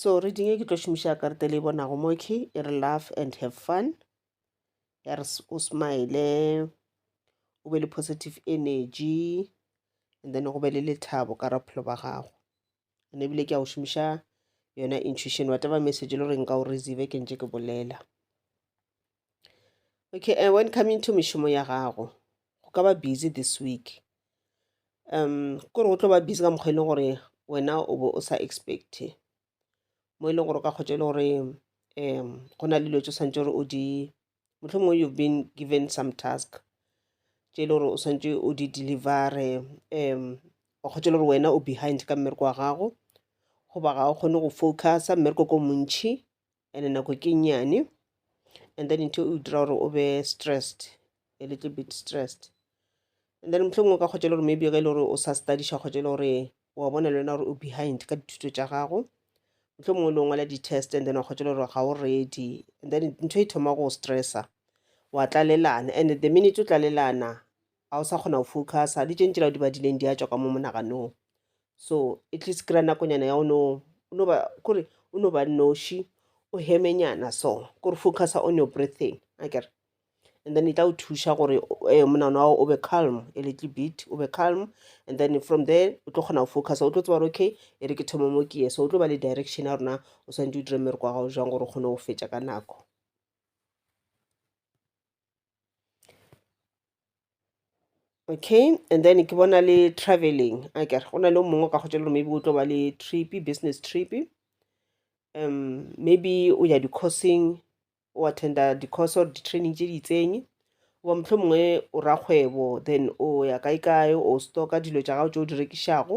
so reading e ke tlo šomiša karete le e bonago mo ke e re laugh and have fun ya re o smile o be le positive energy and then go be le lethabo ka ra bophelo ba gago and ebile ke a go šomiša yona intuition whatever message e le gore nka o receive ke ntse ke bolela okay uh, when coming to mešomo ya gago go ka ba busy this week um kore go tlo ba busy ka mokgwa e leng gore wena o bo o sa expecte mo e leng gore o ka kgotsa e le gore um go na le dilo tse swantse gore o di mohlomongwe you've been given some task tše e le gore o swantse o di delivere um o kgotsa e le gore wena o behind ka mmereko wa gago goba ga o kgone go focusa mmereko ko montšhi and nako ke nnyane and then ntho e dira gore o be stressed a little bit stressed and then mohlomong o ka kgotsa e le gore maybe ge e le gore o sa studiša kgotsa e le gore wa bona le wena gore o behind ka dithuto tša gago mohlomong o le ngwala di-test and then wa kgotsa e le gore ga o ready and then ntho e thoma go stressa wa tlalelana and the minute o tlalelana ga o sa kgona go focusa le tše ntši la o di badileng di a tšwa ka mo monaganong so at least kry-a nakonyana ya o no o no ba kore o no ba noši o hemenyana so kore focusa on your breathing a kere and then e tla o thuša gore eh, monana wa o be calm a little bit o be calm and then from there o tlo kgona go focusa o tlo tseba gore okay e re ke thomo mo ke ye so o tlo ba le direction ya rona o swantse o dire mmereko wa gago jang gore o kgone go fetša ka nako okay and then ke bona le travelling a ke re go na le o mongwe o ka kgotsa le gore maybe o tlo ba le trip business trip um maybe o ya di-courseng o attenda di-course or di-training tše di itseng goba mohlomongwe o rakgwebo then o ya kae kae o stocka dilo tša gago tše o di rekišago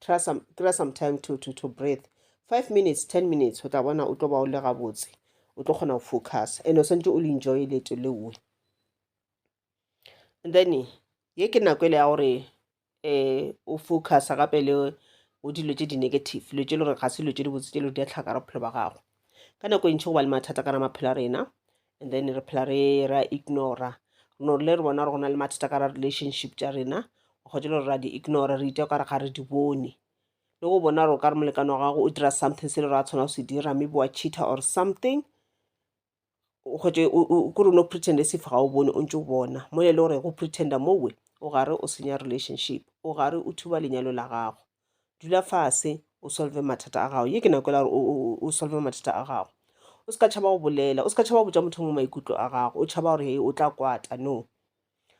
Try some, kry some time to, to, to breathe five minutes ten minutes o tla bona o tlo ba o le gabotse o tlo kgona go focus and o swantse o le enjoy leto leoe and then ye ke nako ele ya gore um o focusa gape le o dilo tse di-negative dilo tse le gore ga se dilo tse di botse tse le di a tlhaka re bophelo ba gago ka nako e ntšhi go ba le mathata ka ra maphelo a rena and then re phela re ra ignora no le re bona gore go na le mathata ka ra relationship tša rena o kgwetše le gore ra di ignora re iteo kare ga re di bone le go bona gore o ka re molekano wa gago o dira something se le gore a tshwana go se dira maybe wa cheater or something o kgwetše kore o no pretend se fa ga o bone o ntse o bona mo e le gore go pretenda mowe o gare o senya relationship o gare o thuba lenyalo la gago dula fase o solve mathata a gago ye ke nako e la gore o solve mathata a gago o se ka tšhaba go bolela o se ka tšhaba go botša motho mongwe maikutlo a gago o tšhaba gore o tla kwata no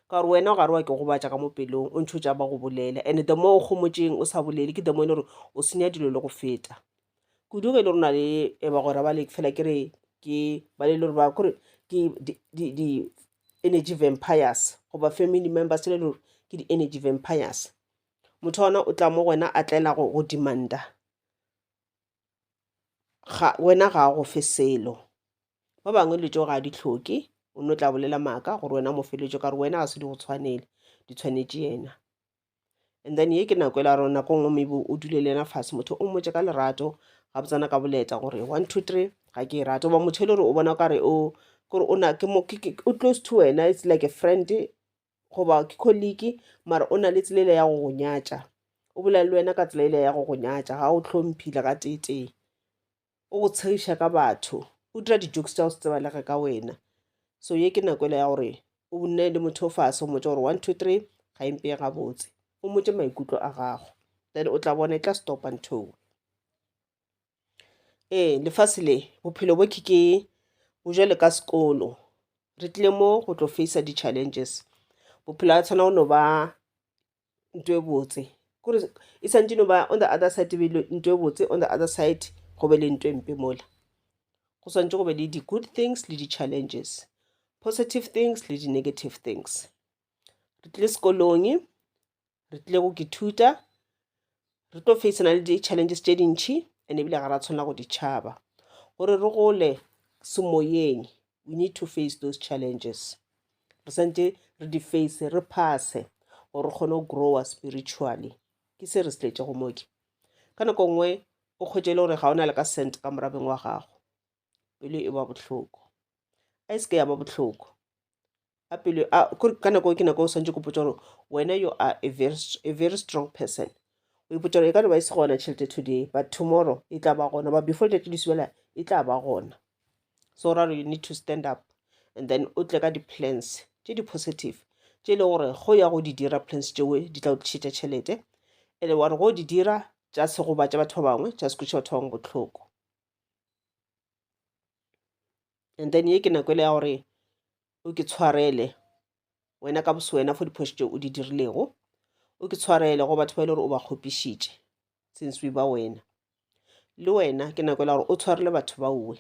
ka gore wena o gare wa ke gobatša ka mo pelong o ntšho tšaba go bolela and the mo o kgomotšeng o sa bolele ke the mo e le gore o senya dilo le go feta kudu ge e le gore na le e ba gore ba le fela ke re ke ba le le gore ba kore ke di-energy vampires goba family members le gore ke di-energy vampires motho ona o tla mo go wena a tlela go go demanda ga wena ga a go fe selo ba bangwe dilo tšeo ga a di tlhoke o no tla bolela maaka gore wena mo feletšo ka gore wena ga se di go tshwanele di tshwanetše yena and then ye ke nako e la rona ko nngwe maybe o dule le yena fase motho o mmotse ka lerato ga botsana ka boleta gore one two three ga ke e rate goba motho e le gore o bona kare o kore o na ke mo ke- ke- o close to wena it's like a friend goba ke kholiki mara o na le tsela ele ya go go nyatša o bolela le wena ka tsela ele ya go go nyatša ga o tlhomphile ga teetee o go tshegiša ka batho o dira di-jokes tša go se tseba lege ka wena so ye ke nako ele ya gore o nne le motho o fase o motse gore one two three ga e mpeye gabotse o motse maikutlo a gago then o tla bona e tla stopa ntho ewe Ee, lefase le, bophelo bo ke ke bo jwalo ka sekolo. Re tlile mo go tlo face-a di-challenges. Bophelo ha tshwana go no ba nto e botse. Kore e sa ntse e no ba on the other side e be e le nto e botse, on the other side go be le nto e mpe mola. Go swantše go be le di-good things le di-challenges, positive things le di-negative things. Re tlile sekolong, re tlile go ke thuta re tlo facena le di-challenges tše dintšhi and ebile ga ra tshwanela go ditšhaba gore re gole semoyeng we need to face those challenges re santse re di face re phase gore re kgone go growa spiritually ke se re se tletse go moke ka nako nngwe o kgwetse e le gore ga o na le ka cent ka morabeng wa gago pelo e ba bohloko a e se ke ya ba bohloko a pelo a ka nako ke nako o swantse go potsa gore wena you are a very, a very strong person o ipotsa gore e ka no ba e se gona tšhelete today but tomorrow e tla ba gona but before letšatši le subela e tla ba gona so ra you need to stand up and then o tle ka di-plans tše di-positive tše e le gore go ya go di dira plans tšeo di tla o tlišetša tšhelete and wa re go di dira tša se gobatša batho ba bangwe tša se kweša batho ba bangwe bohloko and then ye ke nako e le ya gore o ke tshwarele wena ka boswena for diphošo tše o di dirilego o ke tshwarele go batho ba e le gore o ba kgopišitše since we ba wena le wena ke nako e le gore o tshwarele batho ba uwe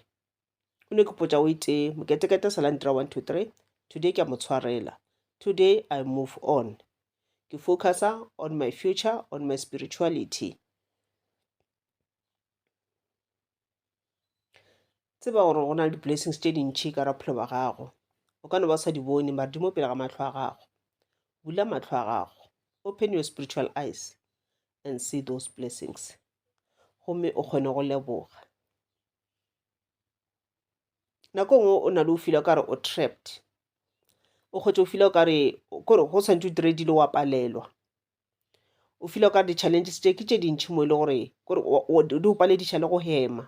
o ne ke potša o itee moketekete sa landira one two three today ke a mo tshwarela today i move on ke focusa on my future on my spirituality tseba gore go na le di-blessings tše dintšhi ka ra bophelo ba gago o ka no ba sa di bone mare di mo pele ga matlho a gago bula matlho a gago open your spiritual eyes and see those blessings gomme o kgone go leboga nako nngwe o na le o fila o kare o trapped o kgwetse o fila o kare kore go tshwanetse o dire dilo wa palelwa o feel o ka re di-challenges tše ke tše dintšhi mo e le gore kore di o palediša le go hema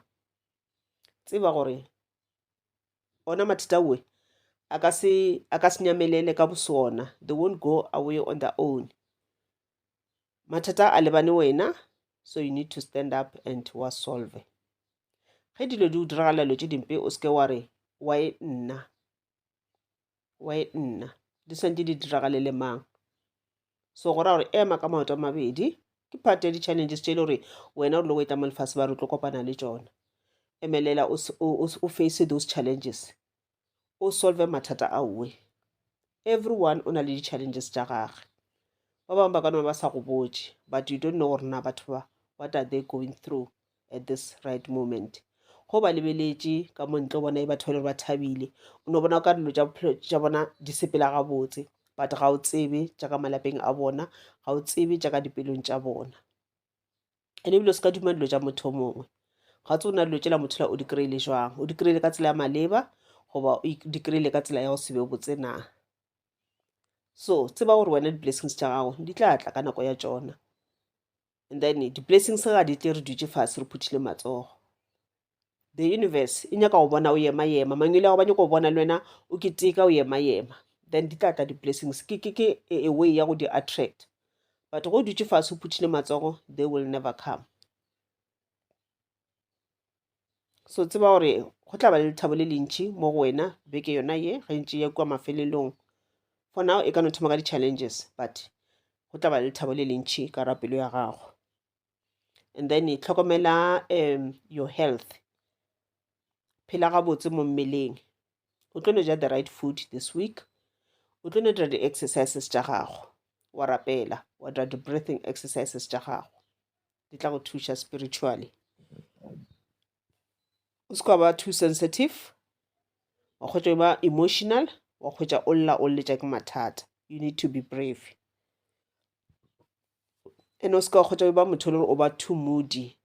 tseba gore ona mathata oe a ka se a ka se nyamelele ka bosona they won't go away on their own mathata a lebane wena so you need to stand up and wa solve ge dilo di o diragalela dilo tše dimpe o seke wa re wa e nna wa e nna di swantse di diragale le mang so go raya gore ema ka maoto a mabedi ke part ya di-challenges tše e le gore wena o rile go e tla mo lefase ba re tlo kopana le tsona emelela o face those challenges o solve mathata a uwe everyone o na le di-challenges tša gage ba bangwe ba ka noma ba sa go botse but you don't know gore na batho ba what are they going through at this right moment go ba lebeletše ka mo ntle o bona e batho ba le gore ba thabile o no bona o ka dilo tša bophelo tša bona di sepela gabotse but ga o tsebe tša ka malapeng a bona ga o tsebe tša ka dipelong tša bona ene ebile o se ka duma dilo tša motho o mongwe ga tse o na dilo tšela motho la o di kry-ile jwang o di kry-ile ka tsela ya maleba goba o di kry-ile ka tsela ya go sebe botse na so tseba gore wena di-blessings tša gago di tla tla ka nako ya tšona and then di-blessings ga di tle re dutše fase re phuthile matsogo the universe e nyaka go bona o yema yema mangwele ya go ba nyako go bona le wena o keteka o yema yema then di tla tla di-blessings ke ke ke a way ya go di attract but go dutše fase o phuthile matsogo they will never come so tseba gore go tla ba le lethabo le lentši mo go wena beke yona ye ga ntši ya kua mafelelong for now e ka no thoma ka di-challenges but go tla ba le lethabo le lentši ka ra pelo ya gago and then e tlhokomela um your health phela gabotse mo mmeleng o tlo no ja the right food this week o tlo no dira di-exercises tša gago wa rapela wa dira di-breathing exercises tša gago di tla go thuša spiritually o se ka ba too sensitive wa kgwetša ba emotional wa kgwetša o lla o lletša ke mathata you need to be brave and o se ka wa kgwetša ba motho le gore o ba too moody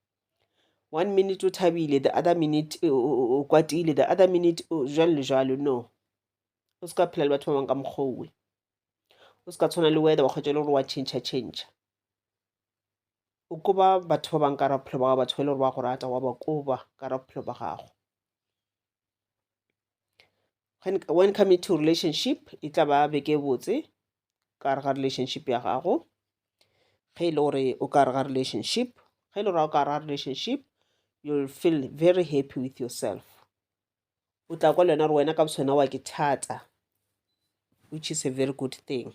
one minute o thabile the other minute o kwatile the other minute jalo le jalo no o se ka phela le batho ba bangwe ka mokgowe o se ka tshwana le weather wa kgwetša le gore wa change change o koba batho ba bang ka ra bophelo ba gago batho ba e le gore ba go rata wa ba koba ka ra bophelo ba gago when come into relationship e tla ba beke botse ka gare ga relationship ya gago ge e le gore o ka gare ga relationship ge e le gore o ka gare ga relationship you'll feel very happy with yourself o tla kwa le wena gore wena ka bosona wa ke thata which is a very good thing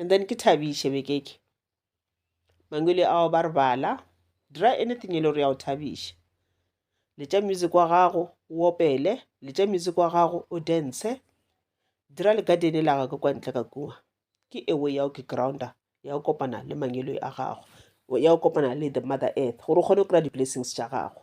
and then ke thabiše bekeke mangwele ao ba re bala dira anything e le gore ya go thabiša letša music wa gago o opele letša music wa gago o dance dira le gadene la gage kwa ntle ka kua ke ewe ya o ke grounder ya go kopana le mangwele a gago ya go kopana le the mother earth gore o kgone go kry-a di-blessings tša gago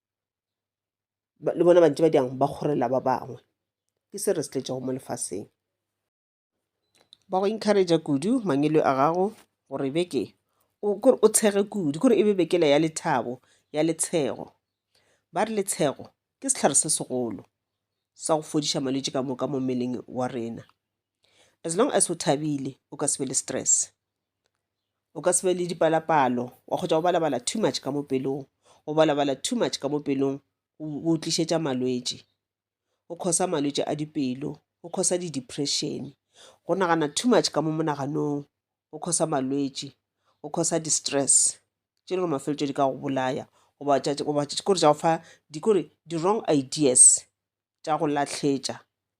Ba- le bona bantši ba diang ba kgorela ba bangwe ke se re se tletšego mo lefaseng ba go encouragea kudu mangwelo a gago gore beke o kore o tshege kudu kore e be bekela ya lethabo ya letshego ba re letshego ke sehlare se segolo sa go fodiša malwetši ka moka mo mmeleng wa rena as long as o thabile o ka se be le stress o ka se be le dipalapalo wa kgotsa go balabala too much ka mo pelong go balabala too much ka mo pelong go tlišetša malwetši go khosa malwetši a dipelo go khosa di-depression go nagana too much ka mo monaganong go khosa malwetši go khosa di-stress tše e le gore mafeletšo di ka go bolaya goba kore di-wrong ideas. tša go lahletša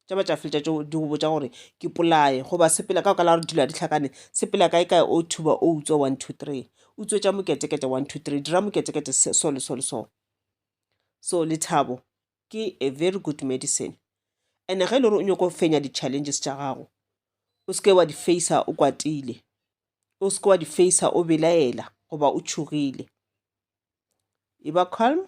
tša ba tša fetša tšeo di go botša gore ke polaye goba sepela ka okala gore dilo a di tlhakane sepela kae kae o thuba o utswa one two three o tswetša moketekete one two three dira moketekete so le so le so so lethabo ke a very good medicine and ge e le gore o nyako fenya di-challenges tša gago o seke wa di facea o kwatile o seke wa di facea o belaela goba o tšhogile e ba calm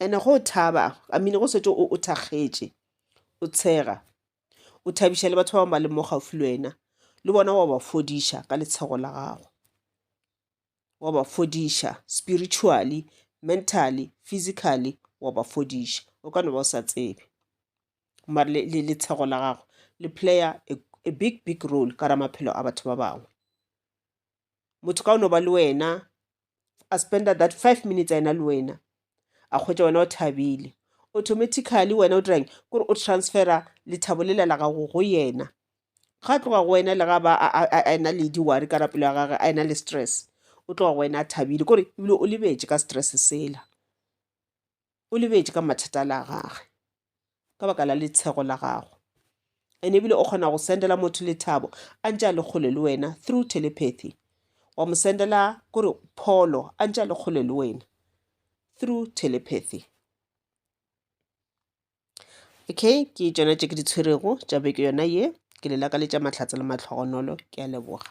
and-e go thaba I mean go setse o thakgetše o tshega o thabiša le batho ba bangwe ba leng mo gaufi le wena le bona wa ba fodiša ka letshego la gago wa ba fodiša spiritually mentally physically wa ba fodiša o ka no ba o sa tsebe mare letshego la gago le player a big big role ka ra maphelo a batho ba bangwe motho ka o no ba le wena a spenda that five minutes a ena le wena a kgwetsa wena o thabile automatically wena o dirang kore o transfera lethabo lela la gago go yena ga tloga go wena le ga ba a ena le di-wari ka rapelo ya gage a ena le stress o tloga go wena a thabile kore ebile o lebetše ka stress sela o lebetše ka mathata la gage ka baka la letshego la gago and ebile o kgona go sendela motho lethabo a ntse a le kgole le wena through telepathy wa mo sendela kore pholo a ntse a le kgole le wena through telepathy okay ke tsona tše ke di tshwerego tša beke yona ye ke le lakaletša mahlatse le matlhogonolo ke a leboga